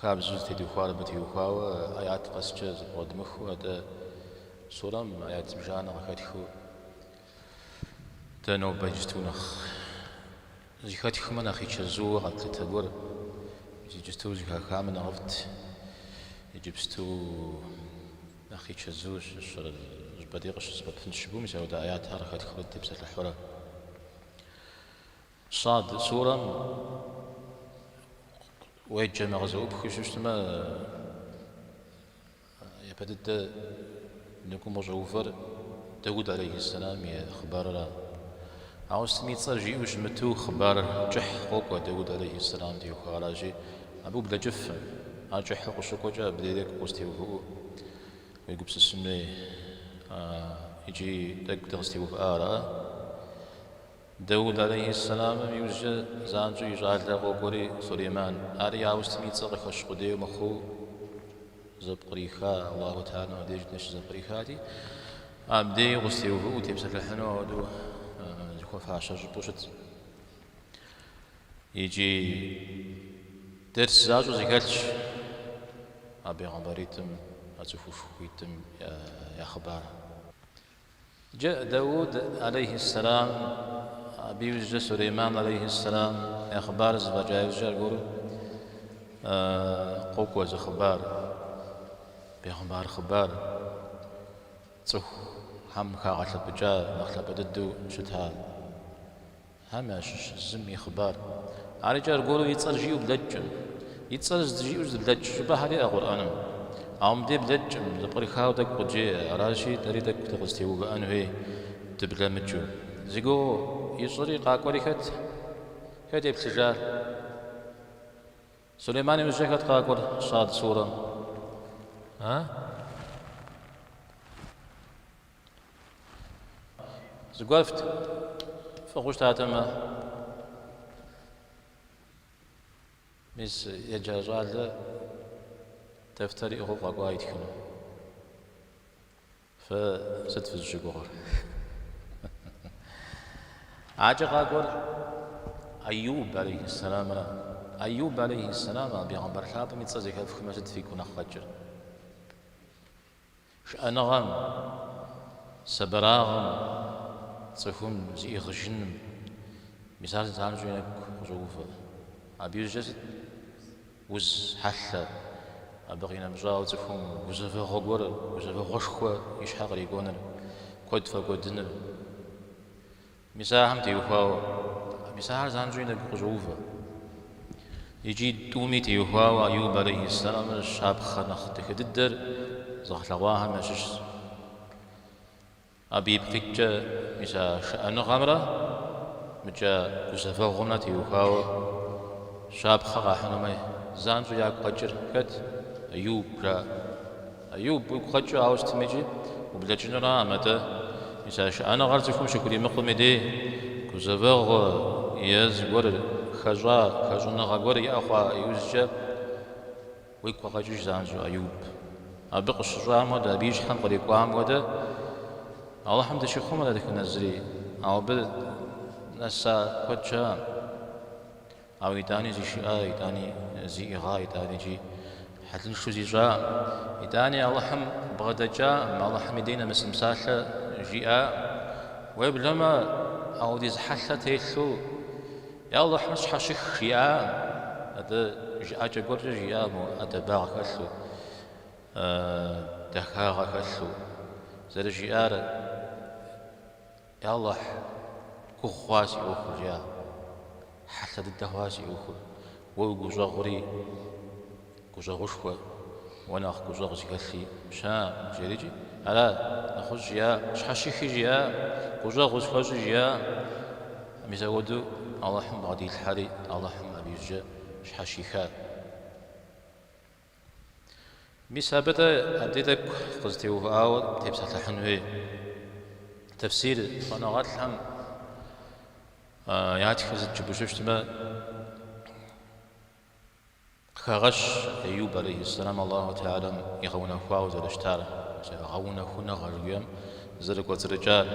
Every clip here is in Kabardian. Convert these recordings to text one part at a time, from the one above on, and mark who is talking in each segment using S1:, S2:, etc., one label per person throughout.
S1: Хабзэу зытедухуар абы теухуауэ аят къэскӏэ зэпкърыдмыхыу, атӏэ сурэм аят зыбжанэ къыхэтхыу дэ нобэ иджысту нэхъ зэхэтхмэ нэхъ и чэзууэ къэтлъытэ гуэр иджысту зыхахамэ нэхъыфӏт, иджыпсту нэхъ и чэзууэ щыщӏыр жьбэдей къыщызэпэпын щыгум мис ауэдэ аятхэр къыхэтхыурэ дытепсэлъыхьурэ. Сад сурэм уеджэмэ къызэӏупхыу щыщтмэ, япэ дыдэ ныкум къыщӏэувэр Дауд алейхьэссэлам и хъыбарыра. Ауэ сытми и цӏэр жиӏэу щымыту хъыбар кӏыхь къокӏуэ Дауд алейхьэссэлам теухуауэ аращи, абы ублэкӏыфэ. Ар кӏыхьу къыщыкӏуэкӏэ абдей укъызэтеувыӏэу уегупсысын хуей икӏи тӏэкӏу дыкъызэтеувыӏа ара. Дауд алейхьэссэламым иужькӏэ занщӏэу и щӏалэ къокӏуэри Сулейман. Ари ауэ сытми и цӏэ къыхэщ къудейуэ мыхъуу зэпкъриха, Аллаху тхьэлэмрэ деж нэщ зэпкърихати, абдеи укъызэтеувыӏэу утепсэлъыхьыну ауэдэу зыхуэфащэ щӏыпӏэу щыт. Икӏи дерс защӏэу зэхэлъщ а бегъымбаритӏым, а цӏыхушхуитӏым я хъыбар. Джэ Дауд алейхи сэлам абы иужькӏэ Сулейман алейхи сэлам я хъыбарыр зэфӏэкӏа иужькӏэ аргуэру къокӏуэ зы хъыбар, бегъымбар хъыбар, цӏыхухэм хагъэлъэпӏыкӏа нэхъ лъапӏэ дыдэу щыта. Хэм ящыщ зым и хъыбар. Ар икӏи аргуэру и цӏэр жиӏэу блэкӏкъым. И цӏэр здыжиӏэу здыблэкӏ щӏыпӏэхэр иӏэ Къурӏэным. Ауэ мыбдей блэкӏкъым, зэпкърыхауэ тӏэкӏу къыджеӏэ, аращи, дэри тӏэкӏу дыкъызэтеувыӏэн хуей дыблэмыкӏыу. Зи гугъу ищӏыри къакӏуэри хэт? Хэт еплъыжар? Сулейман иужькӏэ хэт къакӏуэр Сад сурэм? А? Зыгуэр фӏыгъыу щытатэмэ. Мис еджа щӏалэ дэфтэр иӏыгъыу къэкӏуа итхыну. Фэ сыт фызыщыгугъыр? Адэкӏэ къакӏуэр Айюб алейхиссаламра Айюб алейхиссалам а бегъымбар лъапӏэм и цӏэ зэхэфхмэ сыт фигу нэхъ къэкӏыр? Шыӏэныгъэм, сабырыгъэм, цӏыхум зиӏыгъыжыным мис ар занщӏэу и нэгу къыщӏоувэ. Абы иужькӏэ сыт? Уз хьэлъэ, абы къинэмыщӏауэ цӏыхум гузэвэгъуэ гуэр, гузэвэгъуэшхуэ и щхьэ кърикӏуэныр, куэд фӏэкӏуэдыныр. Мис ахэм теухуауэ. Мис ахэр занщӏэу и нэгу къыщӏоувэ. Икӏи тӏуми теухуауэ Айуб алейхьиссаламрэ щапхъэ нэхъ дахэ дыдэр зыгъэлъэгъуахэм ящыщщ. Абы ипкъ иткӏэ мис а шыӏэныгъэмрэ мыкӏэ гузэвэгъуэмрэ теухуауэ щапхъэ къахьынумэ занщӏэу ягу къэкӏыр хэт, Айуб жаӏэ. Айуб уигу къэкӏыу ауэ сытмикӏи ублэкӏынура а мадэ? Мис а шыӏэныгъэр цӏыхум щыхуримыкъум и дей, гузэвэгъу ез гуэр, хэщӏа хэщӏыныгъэ гуэр иӏэ хъуа иужькӏэ уигу къэкӏыж занщӏэу, Айуб. Абы къыщыщӏам хуэдэ, абы и щхьэм кърикӏуам хуэдэ, Алыхьым дыщихъумэ дэтхэнэ зыри, ауэ абы нэса куэд щыӏэ? Ауэ итӏани зишыӏа, итӏани зиӏыгъа, итӏаникӏи хьэлыншэу зищӏа, итӏани Алыхьым бгъэдэкӏа, мы Алыхьым и дей нэмысым псалъэ жиӏа, уеблэмэ аудиз хьэлъэ телъу Я Алыхьым сщхьэщых жиӏа, абы жыӏэкӏэ гуэркӏэ жиӏа, мо ӏэдэбагъ хэлъу, дахагъэ хэлъу, зэрыжиӏар Алыхь, гугъу хъуа си ӏуэхур, жа. Хьэлъэ дыдэ хъуа си ӏуэхур. Уэ уи гущӏэгъури гущӏэгъушхуэ, уэ нэхъ гущӏэгъу зыхэлъи щыӏэкъым, жерикӏи. Ара, нэгъуэщӏ жиӏа, сщхьэщыхи жиӏа, гущӏэгъу схуэщӏи жиӏа. Мис апхуэдэу Алыхьым бгъэдилъхьэри, Алыхьым абы иужькӏэ щхьэщихар. Мис абы-тӏэ абди тӏэкӏу къызытеувыӏауэ тепсэлъыхьын хуей тэфсир щӏэныгъэлӏхэм ятхыр сыт жыпӏэу щытмэ, къыхэгъэщ Айуб алейхьиссалам Аллаху Теалэм игъэунэхуауэ зэрыщытар, гъэунэхуныгъэ жиӏэм зэрыкӏуэцӏрыкӏар.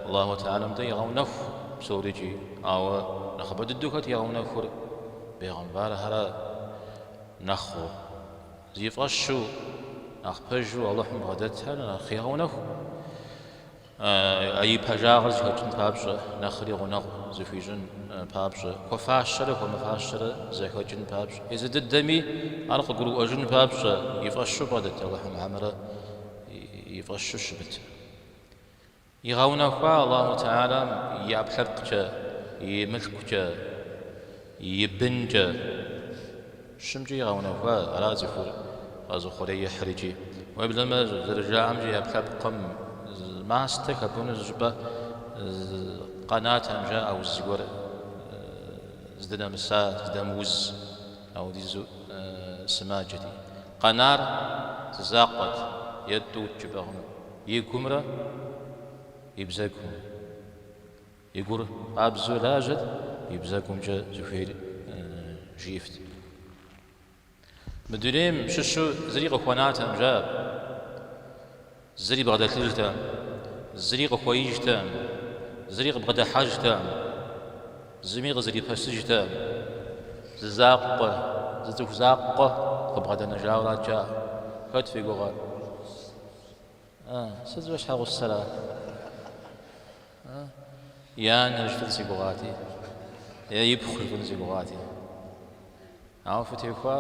S1: Аллаху Теалэм дегъэунэху псорикӏи, ауэ нэхъыбэ дыдэу хэт игъэунэхур? Бегъымбархэр ара? Нэхъыу. Зи фӏэщу, нэхъ пэжу Алыхьым бгъэдэтхэр нэхъ егъэунэху. А и пэжагъыр зэхэкӏын папщӏэ, нэхъри гъунэгъу зыхуищӏын папщӏэ, хуэфащэрэ хуэмыфащэрэ зэхэкӏын папщӏэ, езы дыдэми ар къыгурыӏуэжын папщӏэ, и фӏэщу бгъэдэт Алыхьым хьэмэрэ и фӏэщу щымытыр. Игъэунэхуа Аллаху Теалэм и ӏэпкълъэпкъкӏэ, и мылъкукӏэ, и бынкӏэ. Щымкӏи игъэунэхуа, ара цӏыхур къэзыхъуреихьыр икӏи, уеблэмэ, зэрыжаӏэмкӏэ, и ӏэпкълъэпкъым мастэ хэпӏуну зы щӏыпӏэ къэнатэм жаӏэ уз зыгуэр здынэмыса, здэмыуз. Аудизу сымаджэти, Къэнар зы закъуэт, е тӏут жыпӏэ хъун, и гумрэ и бзэгум. И гур къабзэу лажьэт, и бзэгумкӏэ зыхуейр жиӏэфт. Мы дунейм щыщу зыри къыхуэнатэм, жаӏэу. Зыри бгъэдэлъыжтэкъым, зыри къыхуэижтэкъым, зыри къыбгъэдыхьэжтэкъым, зыми къызэрипэсыжтэкъым. Зы закъуэ, зы цӏыху закъуэ къыбгъэдэнэжауэрат жаӏэр. Хэт фи гугъэр? А, сыт, и щхьэгъусэра? И анэр щытын си гугъати, е и пхъу щытын си гугъати. Ауэ фытехуа?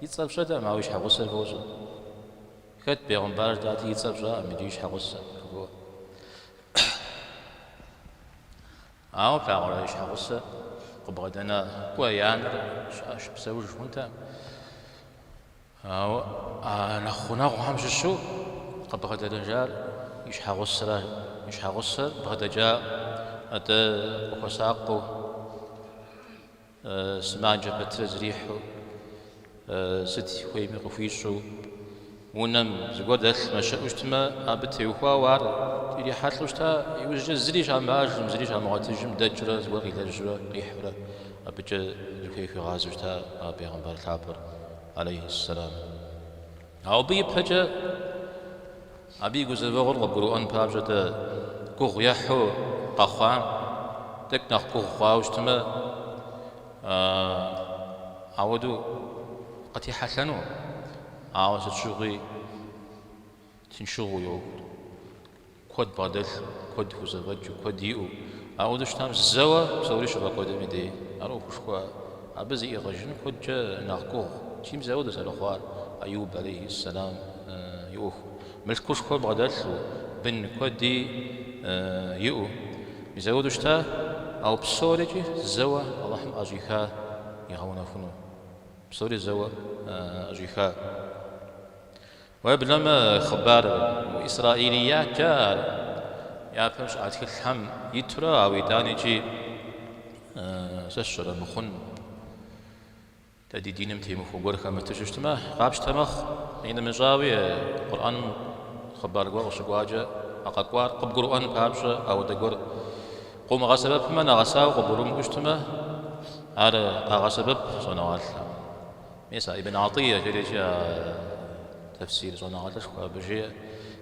S1: И цӏэр пщӏэтэм, ауэ и щхьэгъусэр фощӏэ. Хэт бегъымбар жытӏати и цӏэр пщӏакъым иджы и щхьэгъусэ жыхуэӏу. Ауэ плъагъурэ и щхьэгъусэ къыбгъэдэна кӏуэ и анэр щыӏэж, псэуж хъунтэм. Ауэ а нэхъ гъунэгъухэм щыщу къыбгъэдэнэжар и щхьэгъусэра и щхьэгъусэр бгъэдэкӏакъым, атӏэ къыхуэсакъыу. Сымаджэ пэтрэ зэрихьэу, сыт хуейми къыхуищӏу, унэм зыгуэр дэлъмэ, щыӏэу щытмэ, абы теухуауэ ар ирихьэлӏэу щыта, иужькӏэ зыри щамыӏэжым, зыри щамыгъуэтыжым, дэкӏыурэ зыгуэр къилэжьурэ, къихьурэ, абыкӏэ зыхуей хуигъазэу щыта а бегъымбар лъапӏэр, алейхьэссэлам. Ауэ абы ипэкӏэ, Абы и гузэвэгъуэр къыбгурыӏуэн папщӏэ дэ гугъу ехьу къэхъуам, тӏэкӏу нэхъ гугъу хъуауэ щытмэ, ауэдэу къытехьэлъэнукъым. Ауэ сыт щыгъуи тыншыгъуэ иӏэу, куэд бгъэдэлъу, куэд хузэфӏэкӏыу, куэд иӏэу. Ауэдэу щытам зэуэ псори щыфӏэкӏуэдым и дей. Ар ӏуэхушхуэ Абы зиӏыгъыжын куэдкӏэ нэхъ гугъущи, мис ауэдэу зэрыхъуар Айуб алейхи сэлам и ӏуэхум, мылъкушхуэ бгъэдэлъу, бын куэди иӏэу, мис ауэдэу щыта, ауэ псорикӏи зэуэ Алыхьым ӏэщӏиха игъэунэхуну, псори зэуэ ӏэщӏиха. Уеблэмэ хъыбару исраилият жаӏэр, япэм щыӏа тхылъхэм итурэ ауэ итӏаникӏи сэ сщыремыхъун. Дэ ди диным темыхуэ гуэр хэмыту щытмэ, къапщтэ мэхъу. И нэмыщӏауи, Къурӏэным хъыбар гуэр къыщыкӏуакӏэ а къэкӏуар къыбгурыӏуэн папщӏэ, ауэдэ гуэр къыумыгъэсэбэпмэ, нэгъэсауэ къыбгурымыӏуэу щытмэ, ар къагъэсэбэп щӏэныгъэлӏхэм. Мис а Ибн Гӏатӏия жари а тэфсир щӏэныгъэлӏышхуэ абы жеӏэ,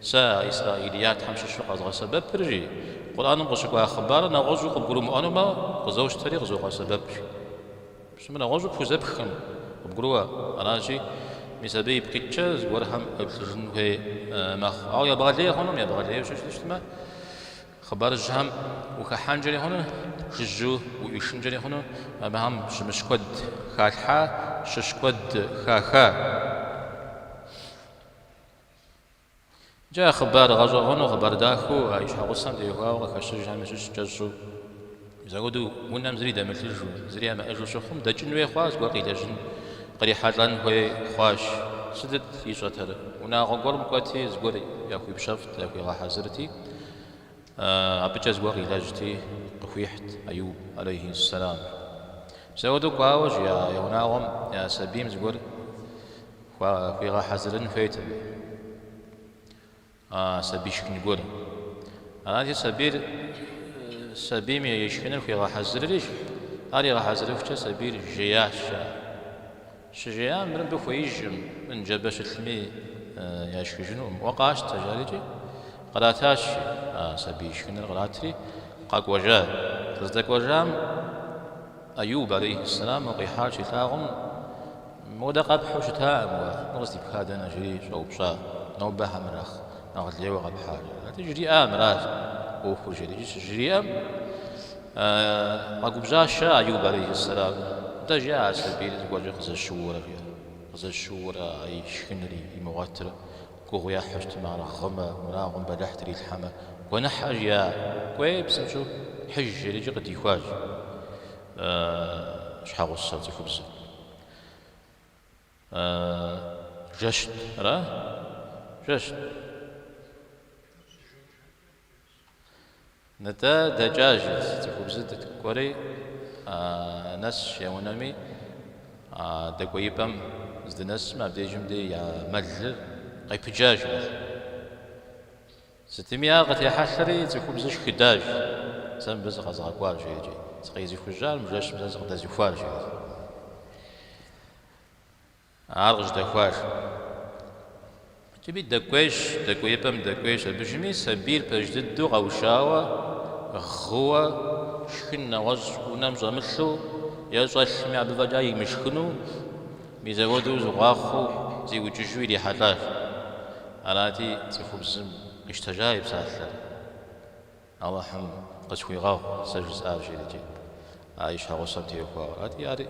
S1: Сэ а Исраилия тхьэм щыщу къэзгъэсэбэпыр, жи, Къурӏэным къыщыкӏуа хъыбарыр нэгъуэщӏу къыбгурымыӏуэнумэ, къызощтэри къызогъэсэбэп, жи. Пщӏэм нэгъуэщӏу пхузэпхкъым, къыбгурыӏуэ. Аращи, мис абы ипкъыткӏэ зыгуэрхэм къеплъыжын хуей мэхъу. Ауэ ебгъэлей хъунукъым, ебгъэлейуэ щытмэ. Хъыбар жьыхэм ухэхьэнкӏэри хъуну, жыжьэу уӏуишынкӏэри хъуну, абыхэм щымыщ куэд халъхьа, щыщ куэд хаха. Иджы а хъыбар гъэщӏэгъуэну, хъыбар дахэу а и щхьэгъусэм теухуауэ къыхэщыжхэм ящыщ кӏэщӏу. Зэгуэрым унэм зыри дэмылъыжу, зыри ямыӏэжу щыхъум, дэкӏын хуей хъуа, зыгуэр къилэжьын, кърихьэлӏэн хуей хъуащ. Сытыт ищӏэтэр? Унагъуэ гуэрым кӏуэти, зыгуэр яхуипщэфӏт, яхуигъэхьэзырти, абыкӏэ зыгуэр къилэжьти, къыхуихьт Аюб, алейхиссэлам. Зэгуэрым кӏуауэ жи унагъуэм я сабийм зыгуэр хуигъэхьэзырын хуейти. А сабий шхын гуэр. Арати, сабийр сабийм и шхыныр хуигъэхьэзыращ. Ар игъэхьэзырыхукӏэ сабийр жеящ, жаӏэ. Щыжеям, мыр мыбы хуеижкъым, мыр ныжэбэ щылъми яшхыжынукъым, уэ къащтэ, жарикӏи, къратащ, жи. А сабий шхыныр къратри, къэкӏуэжа. Къыздэкӏуэжам, Аюб алейхьэссэлам а къихьар щилъагъум, Мыпхуэдэ къэпхьу щытакъым уэ, мыр къыздипхар дэнэ? жри щӏэупщӏат. Нобэ адрейхэм нэхъ нэхъ лейуэ къэпхьар, жи. Атӏэ жриӏа мыращ ӏуэхур, жери. Иджы щыжриӏэм, къэгубжьащ Аюб алейхьэссэлам, Нтӏэ, жи а сабийр зыгуэркӏэ къызэщыуэрэ, жи. Къызэщыуэрэ а и шхынри, имыгъуэтрэ. Гугъу ехьрэ, т1э мыр гъымэ, унагъуэм бэлыхь трилъхьэмэ. Гуэныхьщ жиӏа. Кӏуэи псынщӏэу хьыж жери икӏи къыдихуащ щхьэгъусэ цӏыхубзыр. Жэщт ара? Жэщт. Нтӏэ, дэкӏащ, жи, цӏыхубзыр, кӏуэри, нэсщ я унэми, дэкӏуеипӏэм здынэсым абдежым дей я мэлыр къепыджащ, жи. Сытми ар къытехьэлъэри, цӏыхубзыр шхыдащ, сэ мыбы сыкъэзгъэкӏуар, жерикӏи, сыкъезыхужьар, мы жэщым сэ сыкъыдэзыхуар, жиӏэу. Ар къыжьэдэхуащ, жи. Итӏани дэкӏуейщ, дэкӏуеипӏэм дэкӏуейщ. Абдежми сабийр пэж дыдэу къэушауэ, гъыуэ, шхын нэгъуэщӏ унэм щӏэмылъу е щӏэлъми абы фӏэкӏа имышхыну, мис апхуэдэу гъуахъуэу зиукӏыжу ирихьэлӏащ. Арати, цӏыхубзым къищтэжа и псалъэр. Алыхьым къысхуигъэгъу сэ жысӏар, жиӏэрикӏи, а и щхьэгъусэм теухуауэ. Атӏи, ари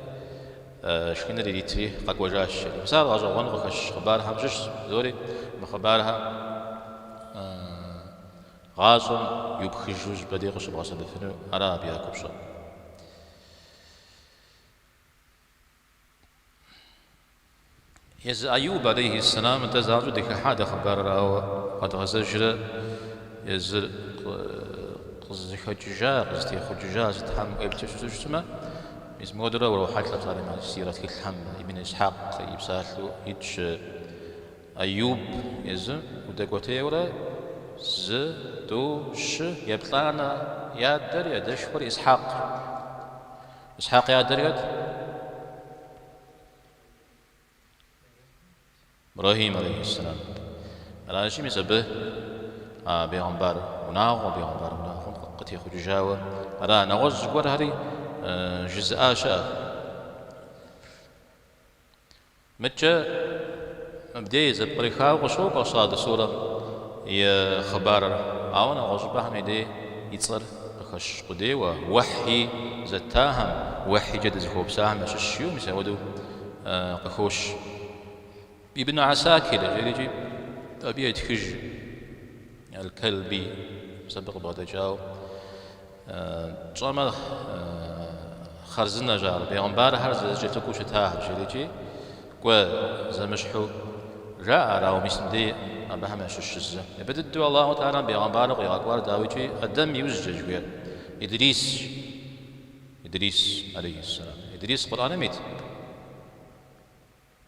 S1: шхыныр иритри, къэкӏуэжащ, жери. Мис ар гъэщӏэгъуэну къыхэщ хъыбархэм щыщщ зыори, мы хъыбархэр гъащӏэм иупхыжу щӏыпӏэ дей къыщыбгъэсэбэпыну ара абы я купщӏэр. Езы Айуб алейхи сэлам дэ занщӏэу дыхыхьа дэ хъыбарыр, ауэ къэдгъэзэжрэ езыр къызыхэкӏыжа, къызытехъукӏыжа сытхэм уеплъу щыту щытмэ, мис мыпхуэдэурэ урохьэлӏэ псалъэм сирэ тхылъхэм Ибн Исхьакъ и псалъэу итщ Айуб езы удэкӏуэтейуэрэ зы, тӏу, щы еплӏанэ, и адэр, и адэшхуэр Исхьакъ. Исхьакъ и адэр хэт? Ибрэхьим алейхиссалам. Аращи, мис абы а бегъымбар унагъуэ, бегъымбар унагъуэм къытехъукӏыжауэ ара? Нэгъуэщӏ зыгуэрхэри жызыӏа щыӏэт. Мыдкӏэ мыбдеж зэпкърихауэ къыщокӏуэ Сад сурэм и хъыбарыр, ауэ нэгъуэщӏыпӏэхэм и дей и цӏэр къыхэщ къудейуэ, уэхьи зэттахэм, уэхьикӏэ дызыхуэупсахэм ящыщ жиӏэу мис апхуэдэу къыхощ. Ибн Гӏэсакир жерикӏи абы етхыж, Аль-Кэлби, мис абы къыбгъэдэкӏауэ. Пщӏэмэ, хъарзынэщ ар, бегъымбархэр зэрызэкӏэлъыкӏуэу щытахэр, жиӏэрикӏи, кӏуэ зэмыщхьу жаӏэ ар, ауэ мис мыбдеж абыхэм ящыщ зы. Япэ дыдэу Аллаху Тэгӏалэм бегъымбару къигъэкӏуар, дауикӏи, Адэм и ужькӏэ жыхуиӏэр, Идрисщ, Идрис, алейхиссалам. Идрис Къурӏэным ит?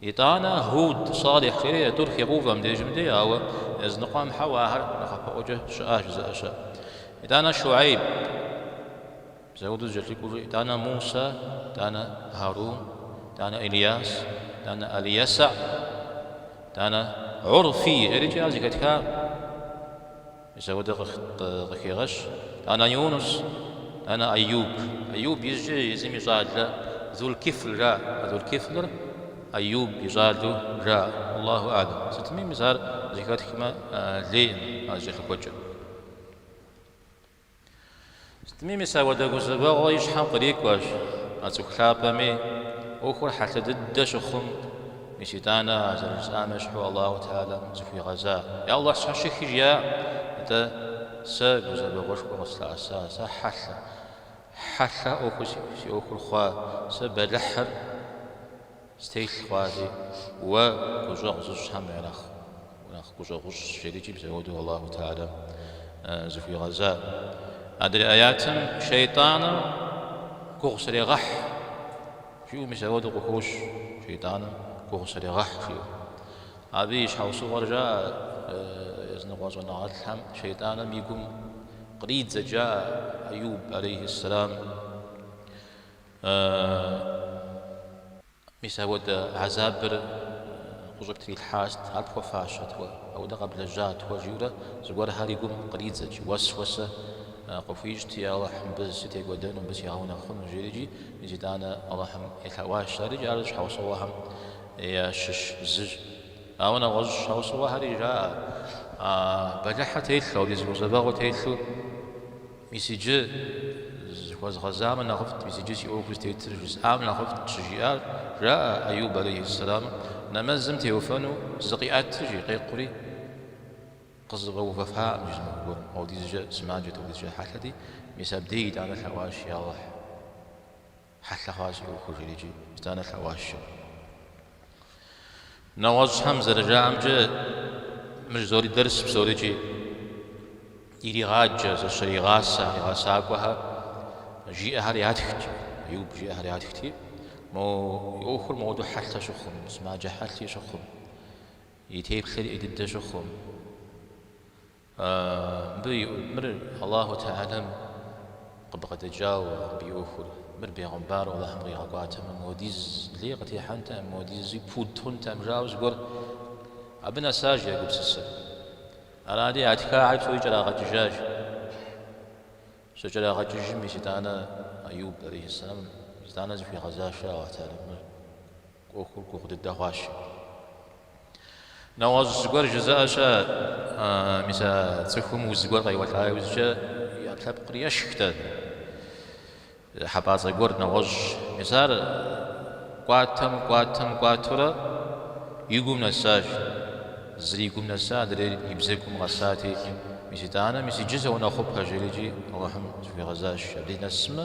S1: Итӏанэ Гьуд, Салихь, а тӏур хегъэувэ мыбдежым дей, ауэ языныкъуэм хьэуэ ахэр нэхъапэӏуэкӏэ щыӏащ жызыӏэ щыӏэщ. Итӏанэ Щуэйб, мис апхуэдэу зэкӏэлъыкӏуэурэ, Итӏанэ Мусэ, Итӏанэ Гьарун, Итӏанэ Илияс, Итӏанэ Алиясэ, Итӏанэ Гӏурфий, жерикӏи ар зэхэтхакъым. Мис апхуэдэ къыхегъэщ итӏанэ Юнус, итӏанэ Айюб. Айюб иужькӏэ езым и щӏалэ Зулкифл жаӏэ. Зулкифлыр Айюб и щӏалэу жаӏэ. Аллаху А'лэм. Сытми мис ар зэхэтхмэ, лейкъым ар зэкӏэлъыкӏуэкӏэр. Сытми мис апхуэдэ гузэвэгъуэ и щхьэм кърикӏуащ а цӏыху лъапӏэми, ӏуэхур хьэлъэ дыдэ щыхъум, мис итӏанэ а зэрыжысӏам ещхьу Аллаху Тэгӏалэм зыхуигъэза. Я Аллахь, сщхьэщых жиӏа, атӏэ сэ гузэвэгъуэшхуэ къыслъэӏэса, сэ хьэлъэ, хьэлъэ ӏуэху си ӏуэхур хъуа, сэ бэлыхьыр. Стелъ хъуащи, уэ гущӏэгъу зыщӏхэм уэ уранэхъ гущӏэгъущӏщ, жери икӏи мис ауэдэу Аллаху Теалэм зыхуигъэзар. Адрей аятым шейтӏаныр гугъу срегъэхь жиӏэу мис ауэдэу къыхощ, шейтӏаныр гугъу срегъэхь жиӏэу. Абы и щхьэусыгъуэр жаӏэ, языныкъуэ щӏэныгъэлӏхэм шейтӏаныр и гум къридзэт жаӏэ Айуб алейхи ссэлам. Аааа. Мис ауэдэ гьэзабыр къыщӏыптрилъхьар сыт, ар пхуэфащэт уэ, ауэдэ къэблэжьат уэ, жиӏэурэ зыгуэрхэр и гум къридзэкӏ, уэсуэсэ къыхуищӏти, Алыхь, мыбы сытекӏуэдэну, мыбы сигъэунэхъуну, жери икӏи, мис итӏанэ Алыхьым елъэӏуащ ар икӏи ар щхьэусыгъуэхэм ящыщ зыщ. Ауэ нэгъуэщӏ щхьэусыгъуэхэри жаӏэ, а бэлыхьыр телъу, апхуэдиз гузэвэгъуэр телъу. Мис иджы зыхуэзгъэзамэ нэхъыфӏт, мис иджы си ӏуэхур зытетыр жысӏам нэхъыфӏт, щыжиӏар, жаӏэ Аюб алейхьэссэламым, нэмэзым теувэну зыкъиӏэтыр, жи, къекъури, къызэфӏэувэфакъым жи зы махуэ гуэрым, ауэдизкӏэ сымаджэт, ауэдизкӏэ хьэлъэти, мис абдеи итӏанэ лъэӏуащ, я Алыхь. Хьэлъэ хъуащ си ӏуэхур, жери икӏи, итӏанэ лъэӏуащ. Нэгъуэщӏхэм зэрыжаӏэмкӏэ, мыщ зори дэрс псорикӏи иригъаджэ, зэщригъасэ а и гъэсакӏуэхэр, жиӏэхэр ятхт, Аюб жиӏэхэр ятхти, мо и ӏуэхур мыуэдэу хьэлъэ щыхъум, сымаджэ хьэлъи щыхъум, и теплъэри ӏей дыдэ щыхъум. Абы и, мыр Аллаху Теалэм къыбгъэдэкӏауэ, абы и ӏуэхур, мыр бегъымбару Аллахьым къигъэкӏуатэмэ, мыуэдиз лей къытехьэнтэкъым, мыуэдизуи пуд хъунтэкъым, жаӏэу зыгуэр абы нэсащ я гупсысэр. Арати, а тхахэр псори кӏэрагъэкӏыжащ. Щыкӏэрагъэкӏыжым мис итӏанэ Аюб, алейхьэссэламым, итӏанэ зыхуигъэзащ жаӏэу а тарихъыр. ӏуэхур гугъу дыдэ хъуащ. Нэгъуэщӏ зыгуэр жызыӏэ щыӏэ, мис а цӏыхум уз гуэр къеуэлӏа иужькӏэ ӏэпкълъэпкъыр ешхтэ. Хьэпӏацӏэ гуэр нэгъуэщӏ. Мис ар кӏуатэм, кӏуатэм кӏуатурэ и гум нэсащ. Зыр и гум нэса, адрейр и бзэгум къэсати, мис итӏанэ, мис иджы соунэхъупэ, жери икӏи Алыхьым зыхуигъэзащ. Абдеж нэсмэ,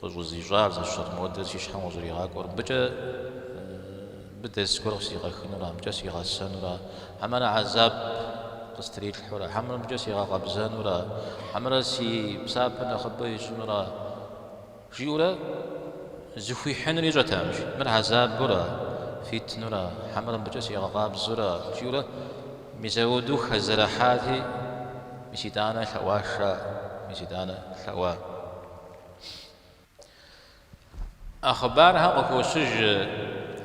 S1: Къыщӏызищӏар сыт модэр си щхьэм къыщӏригъакӏуэр. Мыбыкӏэ мыбы дэрс гуэр къысигъэхынура, мыбыкӏэ сигъэсэнура, хьэмэрэ гьэзаб къыстритлъхьура, хьэмэрэ мыбыкӏэ сигъэкъэбзэнура, хьэмэрэ си псапэр нэхъыбэ ищӏынура, жиӏэурэ зыхуихьынур ищӏэтэкъым. Мыр гьэзабура, фитнура, хьэмэрэ мыбыкӏэ сигъэкъабзура, жиӏэурэ мис ауэдэу хэзэрыхьати, мис итӏанэ лъэӏуащ ар, мис итӏанэ лъэӏуа. А хъыбархэр къыхощыж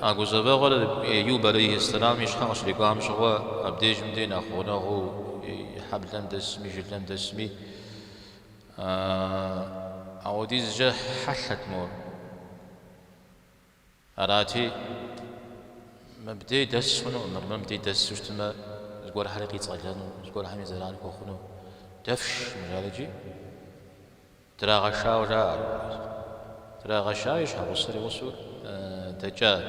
S1: а гузэвэгъуэр Аюб алейхи ссэлам и щхьэ къыщрикӏуам щыгъуэ, абдежым дей нэхъ гъунэгъуу и хьэблэм дэсми, жылэм дэсми. Апхуэдизкӏэ хьэлъэт мор. Арати, мыбдей дэс хъунукъым, абы мыбдей дэсу щытмэ, зыгуэрхэри къицӏэлэну, зыгуэрхэми зэран хуэхъуну. Дэфш мыр жари икӏи. Драгъэшауэ жаӏэ ар уэрэзым. Драгъэшауэ и щхьэгъусэр и гъусэу дэкӏат.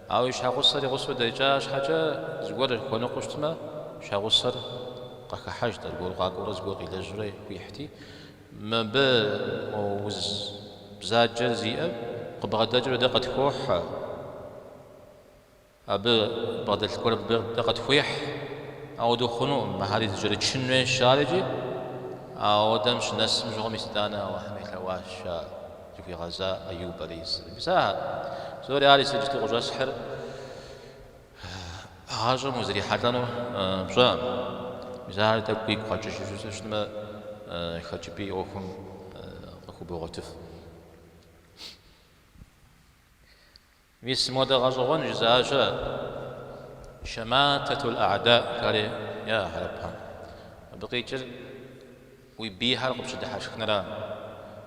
S1: Ауэ и щхьэгъусэр и гъусэу дэкӏа щхьэкӏэ, зыгуэр хуэныкъуэу щытмэ, щхьэгъусэр къыхыхьэжт, аргуэру къакӏуэурэ зыгуэр къилэжьурэ хуихьти, Мыбы уз бзаджэ зиӏэр къыбгъэдэкӏыурэ дэ къытхохьэ, абы бгъэдэлъ гуэр мыбы дэ къытхуехь. Ауэдэу хъунукъым, мыхэри зэкӏэрычын хуейщ жари икӏи. Ауэдэм щынэсым щыгъуэ мис итӏанэ Алыхьым елъэӏуащ ар, зыхуигъэза Аюб алейхи ссэлам. Мис ахэр псори ар иджыпсту къыщӏэсхьыр. Гъащӏэм узрихьэлӏэнур пщӏэкъым. Мис ар тӏэкӏу уигу къэкӏыжыфу щытмэ, хэкӏыпӏи ӏуэхум къыхубогъуэтыф. Мис модэ гъэщӏэгъуэн жызыӏащэ Шамататул А'да жари яӏэ хьэрыпхэм. Абы къикӏыр уи бийхэр къыпщыдыхьэшхынра?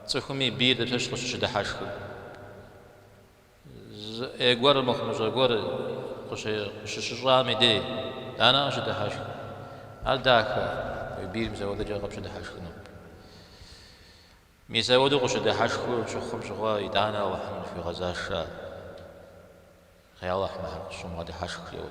S1: Цӏыхум и бийр дапщэщ къыщыщыдыхьэшхыр? Зы ӏей гуэр мыхъумыщӏэ гуэр къыщыщыщӏам и дей итӏанэ къыщыдыхьэшхыр? Ар дахэ, уи бийр мис апхуэдэкӏэ къыпщыдыхьэшхыну. Мис апхуэдэу къыщыдыхьэшхыу щыхъум щыгъуэ итӏанэ Алыхьым зыхуигъэзащ. Ей Алыхь, мыхэр къысщумыгъэдыхьэшх жери.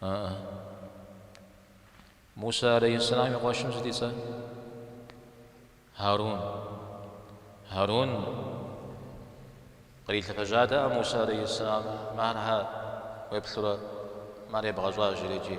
S1: Ааӏэ. Мусэ алейхьэссэлам и къуэшым сыт и цӏэ? Хьэрун. Хьэрун кърилъэфэжьатэкъэ Мусэ алейхьэссэлам, мыхэр щхьэ уеплъурэ, мыхэр ебгъэщӏа жери икӏи.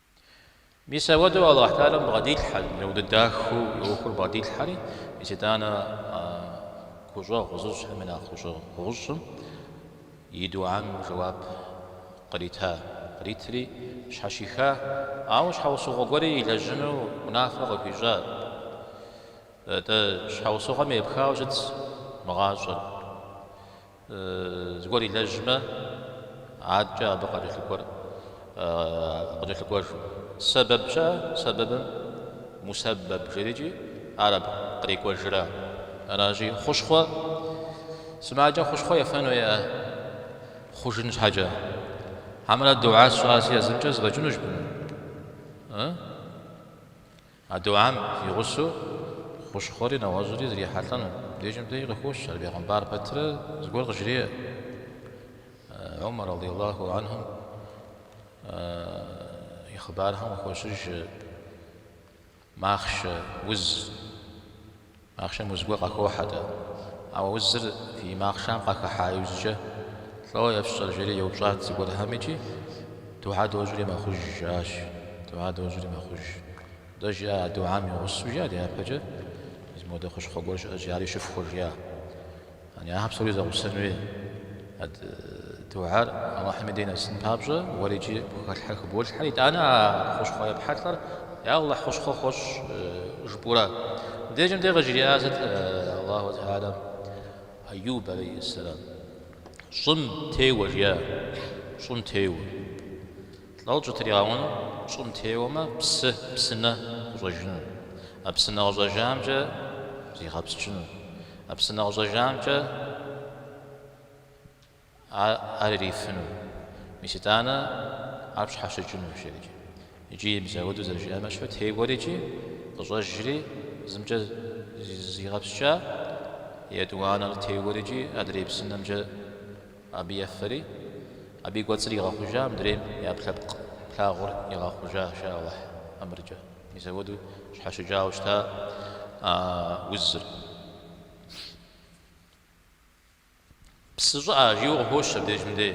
S1: Мис ауэдэу Алыхь Тэхьэлам бгъэдилъхьэ, зи нэудэ дахэу ӏуэхур бгъэдилъхьэри, мис итӏанэ гущӏэгъу зыщӏхэм я нэхъ гущӏэгъущӏым и духьэм жэуап кърита, къритри щхьэщиха, ауэ щхьэусыгъуэ гуэри илэжьыну унафэ къыхуищӏа. Атӏэ, щхьэусыгъуэм епхауэ щыт мы гъащӏэр? Зыгуэр илэжьмэ, адкӏэ абы къыкӏэлъыкӏуэр къыкӏэлъыкӏуэжу. Сэбэб щыӏэ, сэбэбым мусэбэб жери икӏи, ар абы кърикӏуэжра. Аращи, хъущхъуэ сымаджэм хъущхъуэ ефэн хуейкъэ, хъужын щхьэкӏэ. Хьэмэрэ духьэ сщӏащи а зымкӏэ зэфӏэкӏынущ жыпӏэмэ. А духьэм и гъусэу хущхъуэри нэгъуэщӏри зрихьэлӏэну дежым деж къыхощ ар бегъымбар пэтрэ зыгуэр къыжреӏэ Умар радыйаллаху анхум и хъыбархэм къыхощыж махъшэ уз. Махъшэм уз гуэр къахохьэ-тӏэ? Ауэ узыр фи махъшэм къахыхьа иужькӏэ лӏо ефщӏэр? жери еупщӏат зыгуэрхэм икӏи духьэ дощӏри мэхъуж, жиӏащ. Духьэ дощӏри мэхъуж. Дэ жиӏа а духьэм и гъусэу жиӏа дяпэкӏэ зы модэ хущхъуэ гуэр щыӏэщи, ари щыфхуэ жиӏа. Яни ахэр псори зэгъусэнущи а духьэр Алыхьым и дей нэсын папщӏэ, уэрикӏи пхэлъхьэр хыболъхьэ, итӏанэ а хущхъуэ епхьэлӏэр Я Алыхь хущхъуэ хуэщӏ жыпӏэурэ. Мыбдежым де къыжриӏар сыт? Алыхьу тэхьэлам Айюб алейхьэссэлам щӏым теуэ жиӏащ, щӏым теуэ. Лӏо щӏытригъэуэну, щӏым теуэмэ псы, псынэ къыщӏэжыну. А псынэ къыщӏэжамкӏэ зигъэпскӏыну. А псынэ къыщӏэжамкӏэ ар ирифыну. Мис итӏанэ ар пщхьэщыкӏынущ жерикӏи. Икӏи мис ауэдэу зэрыжиӏэмэ щыпэ теуэри икӏи къыщӏэжри зымкӏэ зигъэпскӏа, етӏуанэр теуэри икӏи адрей псынэмкӏэ. Абы ефэри, абы и кӏуэцӏыр игъэхъужа, мыдрейм ӏэпкълъэпкъ плъагъур игъэхъужа, жаӏэ Алыхь ӏэмыркӏэ. Мис ауэдэу щхьэщыкӏауэ щыта а узыр. Псы щӏыӏэ, жиӏэу къыхощ абдежым дей.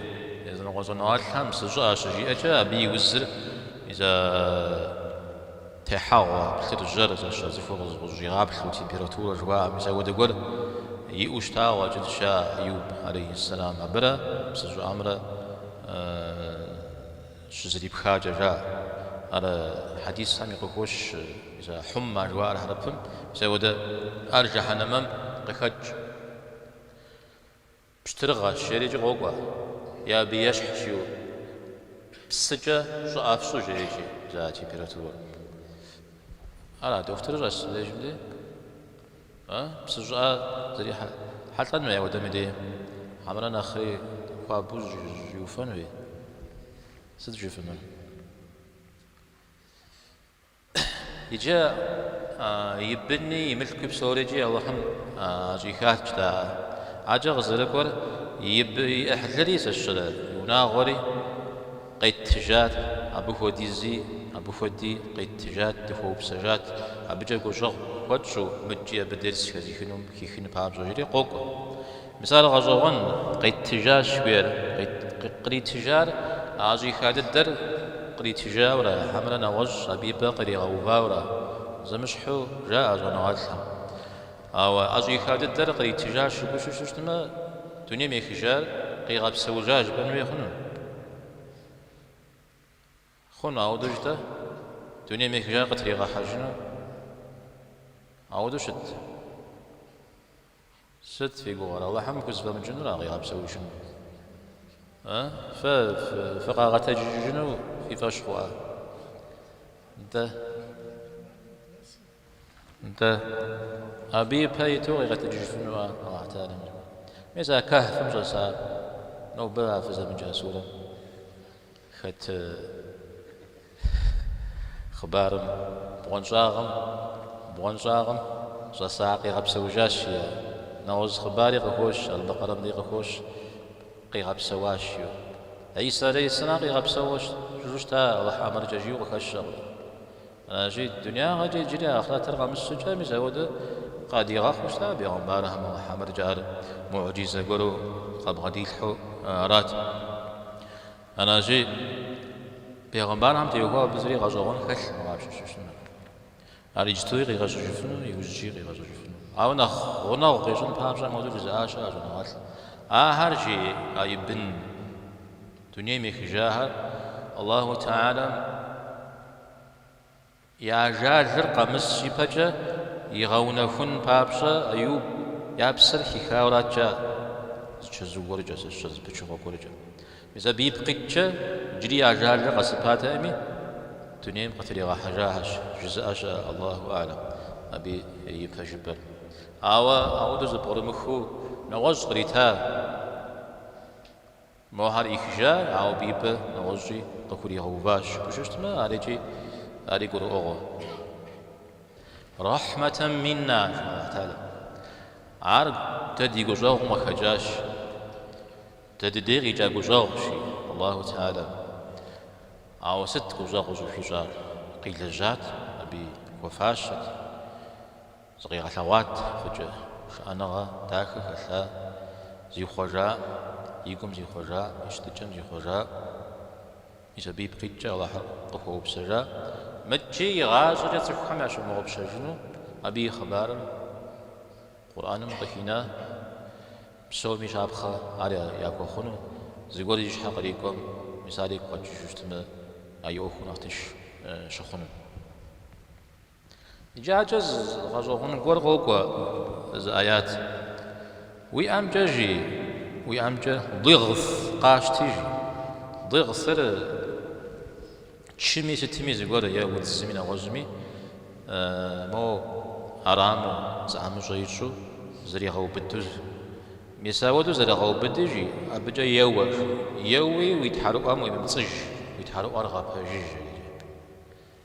S1: Языныкъуэ щӏэныгъэлӏхэм псы щӏыӏэ щыжиӏэкӏэ, абы и узыр, и зэ. Техьэгъуэ, плъыржьэр, зэщэ цӏыхур къызэщӏигъаплъэу температурэ жыхуаӏэм мис ауэдэ гуэр иӏэу щытауэ къыщӏэкӏынщ Айюб, алейхьэссэлам, абырэ псы щӏыӏэмрэ щызэрипхакӏэ жаӏэ. Ар хьэдисхэми къыхощ, мисалы, хьумма жыхуаӏэр хьэрыпым, мис ауэдэ ар жэхьэнэмэм къыхэкӏ. Пщтырыгъэщ, жэрикӏи къокӏуэ, е абы ещхьщ иу. Псыкӏэ щӏыӏэ фщӏы жрекӏи, жаӏэ температурэр. Ара, дохутырыр щӏэсщ дежым дей? А? Псы щӏыӏэ зрихьэ, хьэлӏэн хуей ауэдэм и дей? Хьэмэрэ нэхъри хуабэу уефэн хуей? Сыт жыфӏэнур? Иджы и быни, и мылъкуи псорикӏи Алыхьым ӏэщӏихащ-тӏэ ар. Аджэ къызэрыкӏуэр и бы, и ӏыхьлыри зэщырэ, и унагъуэри къеттыжат, абы хуэдизи, абы хуэди къеттыжат, дыхуэупсэжат, абыкӏэ гущӏэгъу хуэтщӏу, мыдэкӏи абы дерс хэзыхыну, хихыну папщӏэ, жри къокӏуэ. Мис ар гъэщӏэгъуэн, къитыжащ гуейр. Къритыжар ӏэщӏиха дыдэр къритыжауэрэ, хьэмэрэ нэгъуэщӏ абы и пӏэ къригъэувауэрэ зэмыщхьу жаӏэ щӏэныгъэлӏхэм. Ауэ ӏэщӏиха дыдэр къритыжащ жыпӏэу щыщытмэ, дунейм ехыжар къигъэпсэужащ жыпӏэн хуей хъуну? Хъуну ауэдэу-тӏэ, дунейм ехыжар къытригъэхьэжыну. Ауэдэу щытт. Сыт фи гугъэр, Алыхьым хузэфӏэмыкӏынура къигъэпсэужыну? Э, фэ фыкъагъэтэджыжыну фи фӏэщ хъуа? Дэ. Нтӏэ, абы ипэ иту къигъэщӏыжыфыну ара Алыхь Тэхьэлэм жыпӏэр? Мис а Кэхьфым щӏэса нобэ а фызэмыджа сурэм хэт хъыбарым, бгъуэнщӏагъым, бгъуэнщӏагъым щӏэса къигъэпсэужащ жиӏа? Нэгъуэщӏ хъыбари къыхощ, Албэкъэрэмри къыхощ, къигъэпсэуащ жиӏэу. Исэ алейхьисэлам къигъэпсэужу щыта Алыхь ӏэмыркӏэ жиӏэу къыхэщэкъым. Аращи, дунягъэкӏэ иджыри ахърэтыр къэмыс щӏыкӏэ, мис апхуэдэу къадигъэхъуу щыта бегъымбархэм а Мухьэмэдкӏэ ар муӏджизэ гуэру къабгъэдилъхьэу арат. Аращи, бегъымбархэм теухуауэ абы зыри гъэщӏэгъуэн хэлъкъым къащыщӏыныр. Ар иджытуи къигъэщӏыжыфыну, иужькӏи къигъэщӏыжыфыну. Ауэ нэхъ гъунэгъу къищӏын папщӏэ модзу жызыӏа щыӏащ щӏэныгъэлӏ. Ахэр жиӏа Ибн. Дунейм ехыжахэр Аллаху Теалэм. я ажалыр къэмыс ипэкӏэ игъэунэхун папщӏэ Эюб я псэр хихауэ арат кӏа, зычэзу гуэркӏэ, зыщэ зыпычыгъуэ гуэркӏэ. Мис абы ипкъ иткӏэ, иджыри я ажалыр къэсыпатэкъыми, дунейм къытригъэхьэжахэщ, жызыӏэ щыӏэ, Аллаху Алэм, абы и пэжыпӏэр. Ауэ ауэдэу зэпкърымыхыу нэгъуэщӏ кърита. Мохэр ӏихыжар, ауэ абы и пӏэ нэгъуэщӏкӏи къыхуригъэуващ, жыпӏэу щытмэ, арикӏи ари гурыӏуэгъуэ. Рэхьмэтэн минна, жи Алыхь Тэхьэлэ. Ар дэ ди гущӏэгъум къыхэкӏащ. Дэ дыдей къикӏа гущӏэгъущ, жи Алыхь Тэхьэлэ. Ауэ сыт гущӏэгъу къыщӏыхуищӏар? Къилэжьат, абы и хуэфащэт. Зыкъигъэлъэгъуат фӏыкӏэ шыӏэныгъэ дахэ хэлъа зихъуэжа и гум зихъуэжа и щытыкӏэм зихъуэжа и сабий пкъитӏкӏэ Алыхьыр къыхуэупсэжа мыкӏи игъащӏэкӏэ цӏыхухэм ящымыгъупщэжыну абы и хъыбарыр Къурӏэным къыхина псоми щапхъэ ар яхуэхъуну зыгуэр зи щхьэ кърикӏуэм мис ар игу къэкӏыжу щытмэ а и ӏуэхур нэхъ тынш щыхъуну. Иджакӏэ зы гъэщӏэгъуэн гуэр къокӏуэ зы аят. Уи ӏэмкӏэ жи, уи ӏэмкӏэ дигъс къащти жи. Дигъсыр чыми сытми зыгуэр е удзыми нэгъуэщӏми мо ӏэрамэу, зыӏэмыщӏэ ищӏу зэригъэубыду. Мис ауэду зэрыгъэубыди жи, абыкӏэ еуэ жи. Еуи уи тхьэрыӏуэм уемыпцӏыж, уи тхьэрыӏуэр гъэпэжыж жери.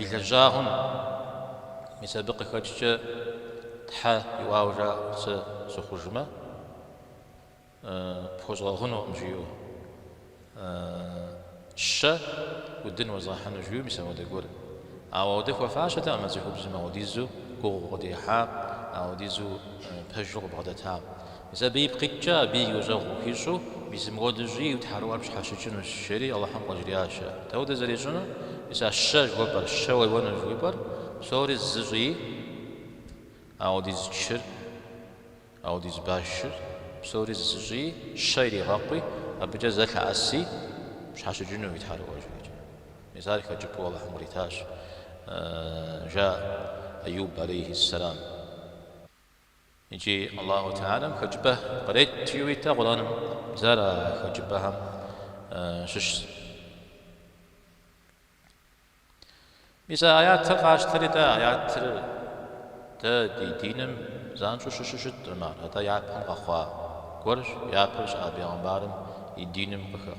S1: и лэжьагъэм, мис абы къыхэкӏкӏэ Тхьэ иӏуауэ жаӏэу сэ сыхъужмэ, пхуэзгъэгъунукъым жиӏэу, щэ удын уэзгъэхьыну жиӏэу, мис ауэдэ гуэр. Ауэ ауэдэ хуэфащэтэкъым а цӏыхубзым, ауэдизу гугъу къыдехьакъэ, ауэдизу пэжу къыбгъэдэтакъэ. Мис абы ипкъ иткӏэ абы и гущӏэгъу къыхуищӏу, мис мыуэдэу щӏыи, уи тхьэрыӏуэр пщхьэщыкӏынущ, жери Алыхьым къыжриӏащ. Дауэдэу зэрищӏыну? Мис а щэ жыхуэпӏэр, щэ уеуэнущ жыхуэпӏэр, псори зы щӏыи, аудиз чыр, аудиз башыр, псори зы щӏыи, щэ иригъэкъуи, абыкӏэ зэ лъэӏэси, пщхьэщыкӏыну уи тхьэрыӏуэр, жреӏэ. Мис ар хэкӏыпӏэу Алыхьым къритащ, жаӏэ Аюб алейхиссэлам. Иджы Аллаху Теалэм хэкӏыпӏэ кърет жиуейтэ Къурӏаным, бзэ ара а хэкӏыпӏэхэм щыщ? Мис а аятыр къащтэри, дэ аятыр дэ ди диным занщӏэу щыщу щытӏым ар, атӏэ япэм къэхъуа гуэрщ, япэу щыӏа бегъымбарым и диным къыхэхъу.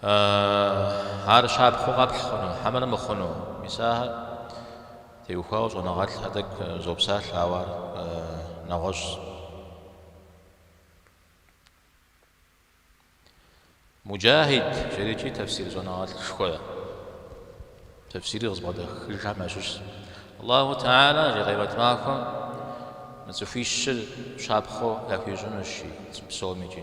S1: Аааа, ар щапхъэу къэпхь хъуну, хьэмэрэ мыхъуну? Мис ахэм теухуауэ щӏэныгъэлӏхэр тӏэкӏу зопсалъэ, ауэ ар нэгъуэщӏщ. Муджахьид жерикӏи тэфсир щӏэныгъэлӏшхуэ, тэфсири къызыбгъэдахыжхэм ящыщщ. Аллаху Теалэ жи къемэт махуэм мы цӏыхуищыр щапхъэу яхуищӏынущи, псомикӏи.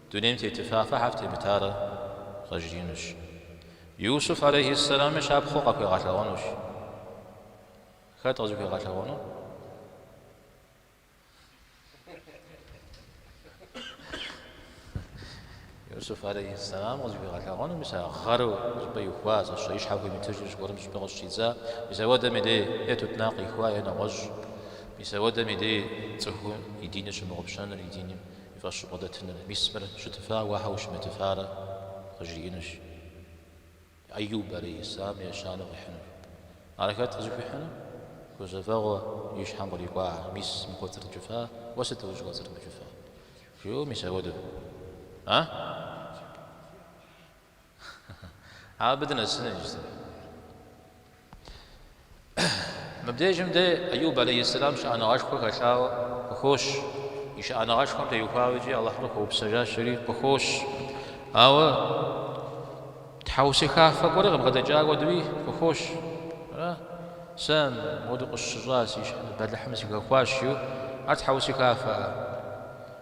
S1: Дунейм тетыфа, фэ щхьэ фытемытарэ къажриӏэнущ. Иусуф алейхьис-салами щапхъэу къахуигъэлъэгъуэнущ. Хэт къызыхуигъэлъэгъуэну? Иусуф алейхьис-салам къызыхуегъэлъэгъуэну, мис а гъэру зыпӏэ ихуа, зэщэ и щхьэ хуимытыжу зыгуэрым зыпӏэ къыщыщӏидза, мис ауэдэм и дей е тутнакъ ихуа, е нэгъуэщӏ, мис ауэдэм и дей цӏыхум и диныр щымыгъупщэныр, и диним. Фӏыуэ бгъэдэтыным мис мыр щытыфа уэ щхьэ ущымытыфарэ къыжриӏэнущ. Аюб алейхиссэлам ещанэу къихьынур. Ар хэт къызыхуихьыну? Гузэвэгъуэ и щхьэм кърикӏуа, мис мыр кӏуэцӏрыкӏыфа, уэ сыт ущӏыкӏуэцӏрымыкӏыфа? Жиӏэу мис апхуэдэу. А? Абы дынэсыну иджыри. Мыбдежым дэ Аюб алейхиссалам щыӏэныгъэшхуэ хэлъауэ къыхощ. И щыӏэныгъэшхуэм теухуауэ икӏи Алыхьыр къыхуэупсэжащэри къыхощ. Ауэ тхьэусыхафэ гуэри къыбгъэдэкӏа хуэдэуи къыхощ. Ара? Сэ мыуэдэу къысщыщӏа, си бэлыхьым сыхэхуащ, жиӏэу. Ар тхьэусыхафэ.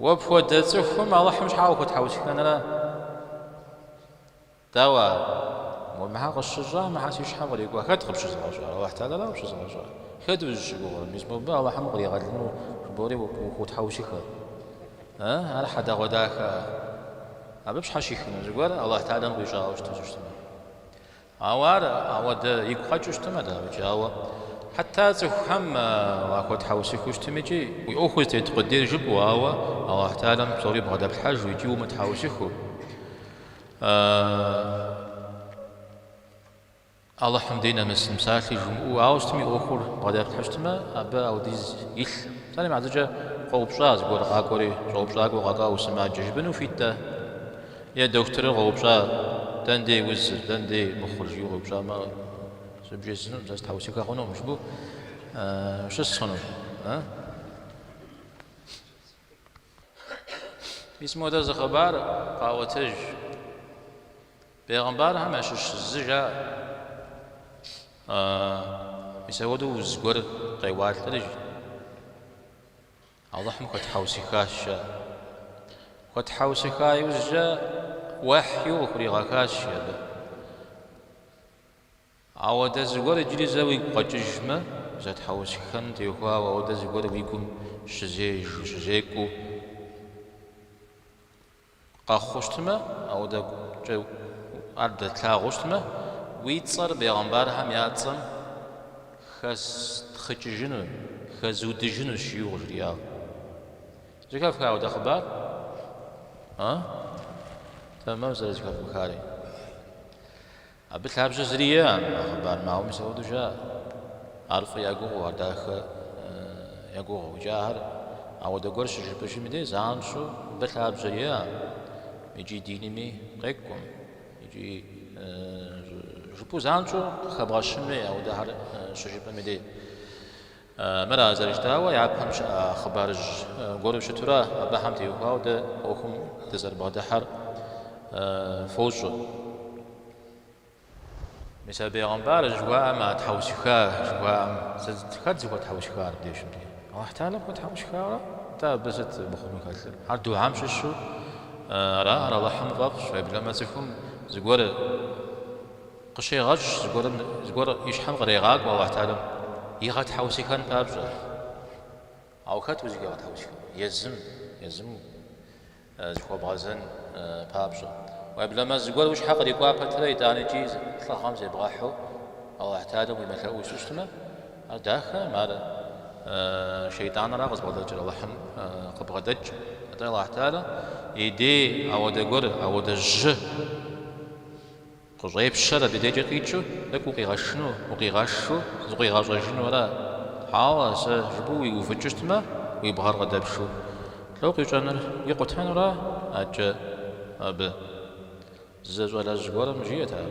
S1: Уэ пхуэдэ цӏыхум Алыхьым щхьа ухутхьэусыхэнрэ? Дауэ ар? Уэ мыхьэ къысщыщӏа, мыхьэ си щхьэм кърикӏуа, хэт къыпщызыгъэщӏар? Алыхь Тэхьэлэра къыпщызыгъэщӏар? Хэт узыщыгугъыр, мис мобы Алыхьым укъригъэлыну жыбоӏэри ухутхьэусыхэ? Э, ар хьэдэгъуэдахэ-а? Абы пщхьэщихыну зыгуэр Алыхь Тэхьэлэм къищӏауэ щыту щыщтмэ? Ауэ ар ауэдэ игу къэкӏыу щытмэ, дауикӏи, ауэ хьэтэ цӏыхухэм уахуэтхьэусыхыу щытымикӏи, уи ӏуэхур зытет къудейр жыпӏэу, ауэ Алыхь Тэхьэлэм псори бгъэдэплъхьэжу икӏи умытхьэусыхыу, Алыхьым дей нэмысын псалъи жумыӏэу, ауэ щытым и ӏуэхур бгъэдэплъхьэу щытмэ, абы ауэдиз илъ. Псалъэм щхьэкӏэ къоупщӏа зыгуэр къакӏуэри, щӏэупщӏакӏуэу къэкӏуа, усымаджэу жыпӏэну ухуит-тӏэ? Е дохутырыр къоупщӏа, Дэндей узыр, дэндей мыхъур? жиӏэу къоупщӏамэ, зы бжесӏэнум, сэ сытхьэусыхэ хъунум жыпӏэу ущыс хъуну. Мис моуэдэ зы хъыбар къаӏуэтэж. Бегъымбархэм ящыщ зы жаӏэ. Мис ауэдэу уз гуэр къеуалӏэри, жи. Алыхьым хуэтхьэусыхащ, жаӏэ. Хуэтхьэусыха иужькӏэ уэхью къыхуригъэхащ абы. Ауэдэ зыгуэр иджыри зэ уигу къэкӏыжмэ, зэтхьэусыхэным теухуауэ, ауэдэ зыгуэр уи гум щызежэу, щызекӏуэу. Къэхъу щытмэ, ауэдэ гукӏэ ар пдэтлъагъуу щытмэ, уи цӏэр бегъымбархэм я цӏэм хэстхъыкӏыжыну, хэзыудыжынущ, жиӏэу къыжриӏагъ. Зэхэфха ауэдэ хъыбар? А? Тэмэму зэрызэхэфхари. Абы лъабжьэ зыри иӏэкъым а хъыбарым, ауэ мис апхуэдэу жаӏэ. Ар фӏы я гугъэу, ар дахэ я гугъэу. Икӏи ахэр ауэдэ гуэр щыжыпӏэжым дей занщӏэу абы лъабжьэ иӏэкъым икӏи динми къекӏуэм, икӏи жыпӏэу занщӏэу къыхэбгъэщынми ауэдэхэр щыжыпӏэм и дей. Мыр а зэрыжытӏауэ, япэм щыӏэ хъыбарыжь гуэру щытурэ абыхэм теухуауэ дэ ӏуэхум дызэрыбгъэдыхьэр фощӏэ. Мис а бегъымбар жыхуаӏэм а тхьэусыха жыхуаӏэм сыт, хэт зыхуэтхьэусыхар абдежым дей? Аллахь Талэм хуэтхьэусыхауэ, атӏэ абы сыт мыхъуну хэлъыр? Ар духьэм щыщу ара, ар Аллахьым фӏэфӏщ, уеблэмэ цӏыхум зыгуэр Къыщегъэщӏ зыгуэрым, зыгуэр и щхьэм кърегъакӏуэ Алыхь Талэм игъэтхьэусыхэн папщӏэ. Ауэ хэт узыхуигъэтхьэусыхэну? Езым, езым зыхуэбгъэзэн папщӏэ. Уеблэмэ, зыгуэр уи щхьэ кърикӏуа пэтрэ итӏанэ икӏи лӏыгъэм зебгъэхьу Алыхь Талэм уемылъэӏужу щытмэ, ар дахэкъым, ар Шейтӏанра къызбгъэдэкӏыр, Алыхьым къыбгъэдэкӏ. Атӏэ Алыхь Талэ и дей ауэдэ гуэр, ауэдэ жьы. Къыщӏепщэр абы дежкӏэ къикӏыу, тӏэкӏу укъигъэушыну, укъигъэушыну, зыкъуигъэщӏэжыну ара? Хьэуэ, сэ жыпӏэу уиувыкӏыу щытмэ, уи бгъэр къыдэпшу. Лӏо къищӏэнур, икъутэнура адэкӏэ абы? зы щӏалэжь гуэрым жиӏэт ар.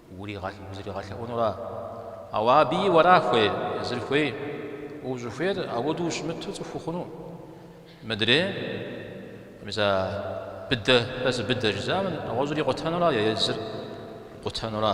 S1: Узригъэлъэӏунура? Ауэ абы уэра хуей, езыр хуей? Узыхуейр ауэдэу ущымыту цӏыху ухъуну? Мыдрей? Мис а быдэ, сэ сыбыдэ жызыӏэм нэгъуэщӏыр икъутэнура е езыр къутэнура?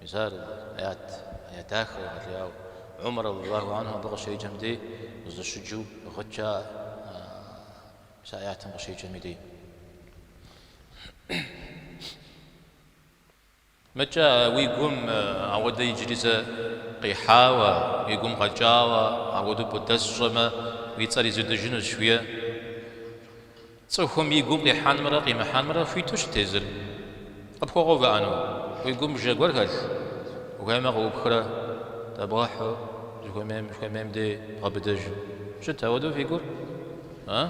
S1: Мис ар аят, аят дахэ егъэлеяуэ. Умар радиаллаху анхум абы къыщеджэм дей къызэщыджэу гъыт жаӏэ, мис а аятым къыщеджэм и дей. Мыкӏэ уи гум ауэдэ иджыри зэ къихьауэ, уи гум къэкӏауэ, ауэдэу пӏудэс щӏэмэ, уи цӏэр изудыжынущ, уе. Цӏыхум и гум къихьэнымрэ къимыхьэнымрэ хуиту щыт езыр. Къыпхуэгъэувыӏэну? Уи гум бжэ гуэр хэлъ? Ухуеймэ, къыӏупхрэ, дэбгъэхьу, ущыхуэмейм, ущыхуэмейм дей бгъэбыдэжу. Щыт ауэдэу фи гур? А?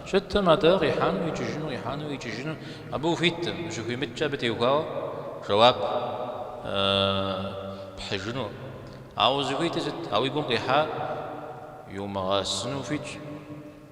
S1: Щыткъым атӏэ, къихьэну, икӏыжыну, къихьэну, икӏыжыну. Абы ухуиткъым, ущыхуимыткӏэ абы теухуауэ жэуап пхьыжыну. Ауэ узыхуитыр сыт? А уи гум къихьар иумыгъэсыну ухуитщ.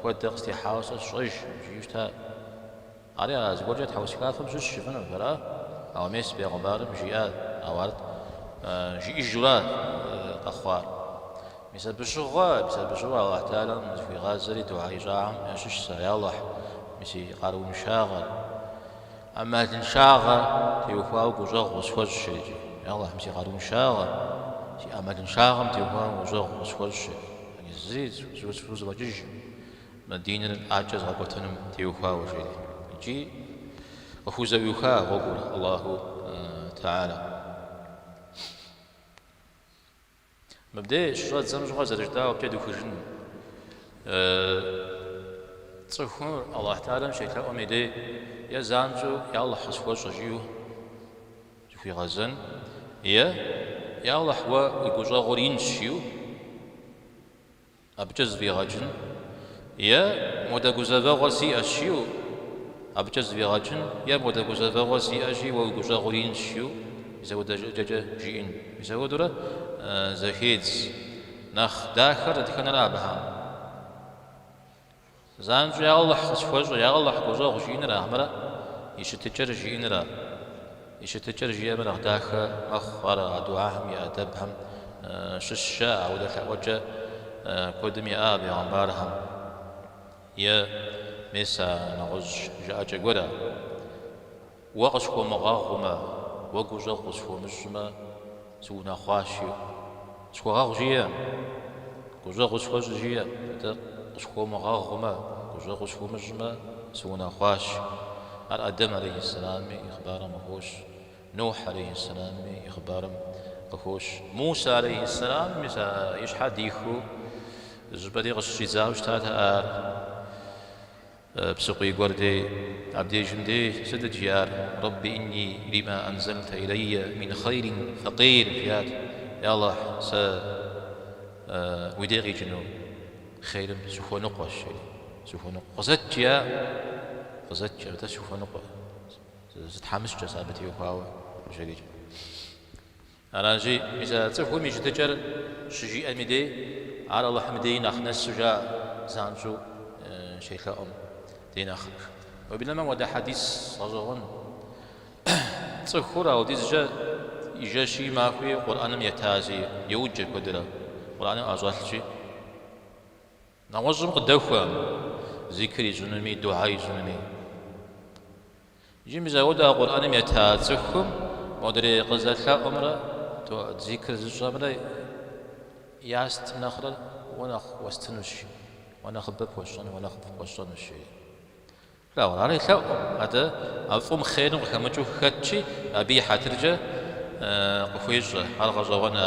S1: Хуэдэ къыстехьауэ сэ сщӏэж, жиӏэу щыта. Ари, а зыгуэркӏэ тхьэусыхафэм щыщ пщӏыфыну ар? Ауэ мес бегъымбарым жиӏат, ауэ ар жиӏэжурэ къэхъуар. Мис абы щыгъуэ, мис абы щыгъуэ Аллахь Талэм зыхуигъазэри духьэ ищӏахэм ящыщ сэ, Я Аллахь, мы си къарууншагъэр, ӏэмалыншагъэ теухуауэ гущӏэгъу къысхуэщӏ жери. Аллахьым си къарууншагъэ, си ӏэмалыншагъэм теухуауэ гущӏэгъу къысхуэщӏ жери. Зыри сызфӏэкӏыжкъым мы диныр япэкӏэ згъэкӏуэтыным теухуауэ жери. Икӏи къыхузэӏуиха гъуэгур Аллахьу Тэхьалэ. Мыбдеж щыщӏэддзэм щыгъуэ зэрыжытӏагъэмкӏэ дыхужын. Цӏыхур Аллахь Тэхьалэм щелъэӏум и дей е занщӏэу Я Аллахь къысхуэщӏэ жиӏэу зыхуигъэзэн, е Я Аллахь уэ уи гущӏэгъур инщ жиӏэу Абыкӏэ зэфӏигъэкӏын? Е модэ гузэвэгъуэр сиӏэщ, жиӏэу? Абыкӏэ зэфӏигъэкӏын? Е модэ гузэвэгъуэр сиӏэщи, уэ уи гущӏэгъур инщ, жиӏэу? Мис ауэдэ щӏыкӏэкӏэ жиӏэн. Мис ауэдэурэ зэхедз. Нэхъ дахэр дэтхэнэрэ абыхэм? Занщӏэу я Алыхь къысхуэщӏэ, я Алыхь гущӏэгъу жиӏэныра хьэмэрэ и щытыкӏэр жиӏэныр а? И щытыкӏэр жиӏэмэ нэхъ дахэ мэхъу, ар а духьэхэм и ӏэдэбхэм щыщщэ, ауэдэ лъэӏуэкӏэ куэдым иӏэ а бегъымбархэм, е мес а нэгъуэщӏ жыӏэкӏэ гуэр а? Уэ къысхуэмыгъэгъумэ, уэ гущӏэгъу къысхуэмыщӏмэ, сыунэхъуащ, жиӏэ. Къысхуэгъэгъу жиӏэ. Гущӏэгъуи схуэщӏ жиӏэ. Атӏэ, къысхуэмыгъэгъумэ, гущӏэгъу къысхуэмыщӏмэ, сыунэхъуащ. Ар Адэм алейхьэссэламми и хъыбарым къыхощ, Нухь алейхьэссэламми и хъыбарым къыхощ. Мусэ алейхьэссэламым мис а и щхьэр дихыу зы щӏыпӏэри къыщыщӏидзауэ щытат ар. Псыкъуий гуэр дей, абдежым дей сыт жиӏар, Рэбби инни лима анзальта илайя мин хайрин факир, жиӏат, Е Алыхь, сэ уи дей къикӏыну хъейрым сыхуэныкъуэщ, жери, сыхуэныкъуэ, къызэт жиӏа, къызэт жиӏа, атӏэ сыхуэныкъуэ, сытхьэмыщкӏэщ абы теухуауэ къыщӏекӏ. Аращи, мис а цӏыхум и щытыкӏэр щыжиӏэми дей, ар Алыхьым деи нэхъ нэсу жаӏэ, занщӏэу щелъэӏум дей нэхърэ. Уеблэмэ ауэдэ хьэдис гъэщӏэгъуэн. Цӏыхур ауэдизкӏэ и жэщи и махуи Къурӏэным етащи йоджэ куэдрэ, Къурӏэным ӏэщӏэлъщи. Нэгъуэщӏым къыдэхуэ, зикр ищӏынуми, духьэ ищӏынуми. Иджы мис ауэдэ а Къурӏэным ета цӏыхум модрей къызэлъэӏумрэ тоӏэт зикр зыщӏэмрэ ястым нэхърэ уэ нэхъ уэстынущ, уэ нэхъыбэ пхуэсщӏэну, уэ нэхъыфӏ пхуэсщӏэнущ, жери. Плъагъурэ, ар елъэӏу, атӏэ а фӏым хъерым къыхэмыкӏыу хэтщи, абы и хьэтыркӏэ къыхуещӏэ, ар гъэщӏэгъуэна.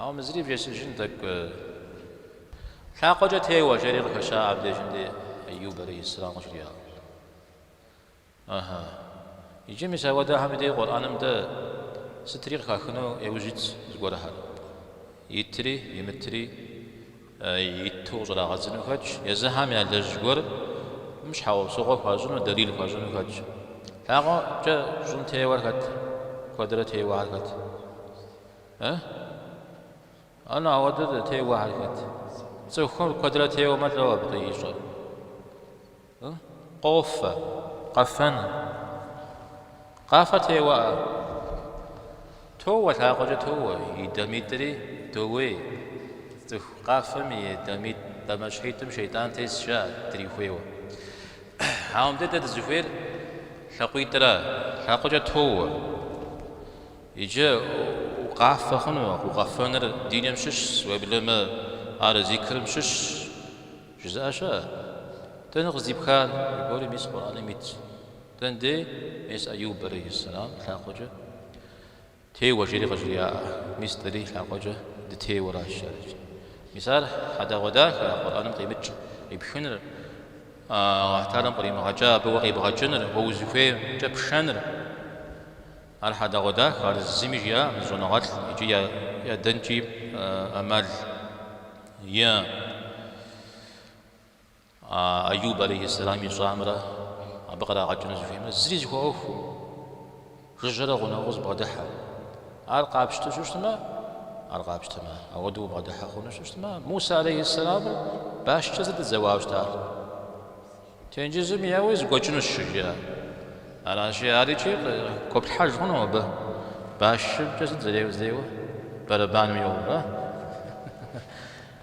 S1: Ауэ мы зыри вжесыжын тӏэкӏу. Лъакъуэкӏэ теуэ, жери къыхэща абдежым дей Эйюб алейхьиссэлам къыжриӏэу. Ыхьы. Иджы мис ауэдэхэми дей Къурӏэным дэ сытри къыхахыну еужь итщ зыгуэрхэр. Итри, имытри, иту къыщӏрагъэдзыну хэтщ, езыхэм ялэжь гуэрым щхьэусыгъуэ хуащӏыну, дэлил хуащӏыну хэтщ. Лъакъуэкӏэ щӏым теуэр хэт? Куэдрэ теуэхэр хэт? Э? Ар нэгъ ауэдэу теуэхэр хэт? Цӏыхухэр куэдрэ теуэмэ лӏо абы къищӏэр. Э? Къофэ, къэфэн. Къафэ теуэӏэ? Тоуэ, лъакъуэкӏэ тоуэ, и дамитӏри доуей. Цӏыху къафэм и дамитӏ дамащхьитӏым шейтӏан тесщ жаӏэ, дрихуейуэ. Ауэ мыбдеж дэ дызыхуейр лъакъуитӏра? Лъакъуэкӏэ тоуэ. Иджы укъафэ хъуну? Укъэфэныр диным щыщщ, уеблэмэ ар зикрым щыщщ, жызыӏэ щыӏэ? Дэнэ къыздипхар? Зыгуэру мис Къурӏэным итщ. Дэн дей? Мис Аюб алейхьиссэлам лъакъуэкӏэ теуэ жери къыжриаӏэ. Мис дэри лъакъуэкӏэ дытеуэращ жэркӏэ. Мис ар хьэдэгъуэдахэ, а Къурӏэным къимыкӏ къипхыныр, Алыхьталэм къримыгъэкӏа абы уэ къебгъэкӏыныр, уэ узыхуеймкӏэ пшэныр. Ар хьэдэгъуэдахэ, ар зыми жиӏакъым зы щӏэныгъэлӏ икӏи ядэнкӏи ӏэмал иӏэкъым. Айуб алейхьисэлам ищӏамрэ абы кърагъэкӏыну зыхуеймрэ зыри зыхуэӏуэхуу, жыжьэрэ гъунэгъуу зыбгъэдыхьэ. Ар къапщтэу щыщытмэ, ар къапщтэмэ, ауэдэу убгъэдыхьэ хъуну щыщытмэ, Мусэ алейхьисэламыр башкӏэ зэдэзэуауэ щытащ. Тенджызым еуи зэгуэкӏынущ щыжиӏэр. Аращи, ар икӏи къыгуэплъхьэж хъуну абы? Башымкӏэ сыт зэреуэ, зэуэр? Бэрэбаным йоуэ.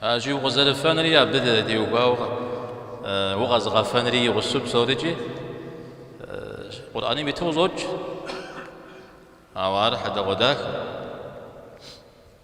S1: Аращи, укъызэрыфэнри абы теухуауэ укъэзыгъэфэнри игъусу псорикӏи Къурӏэным иту къыщӏокӏ. Ауэ ар хьэдэгъуэдахэ.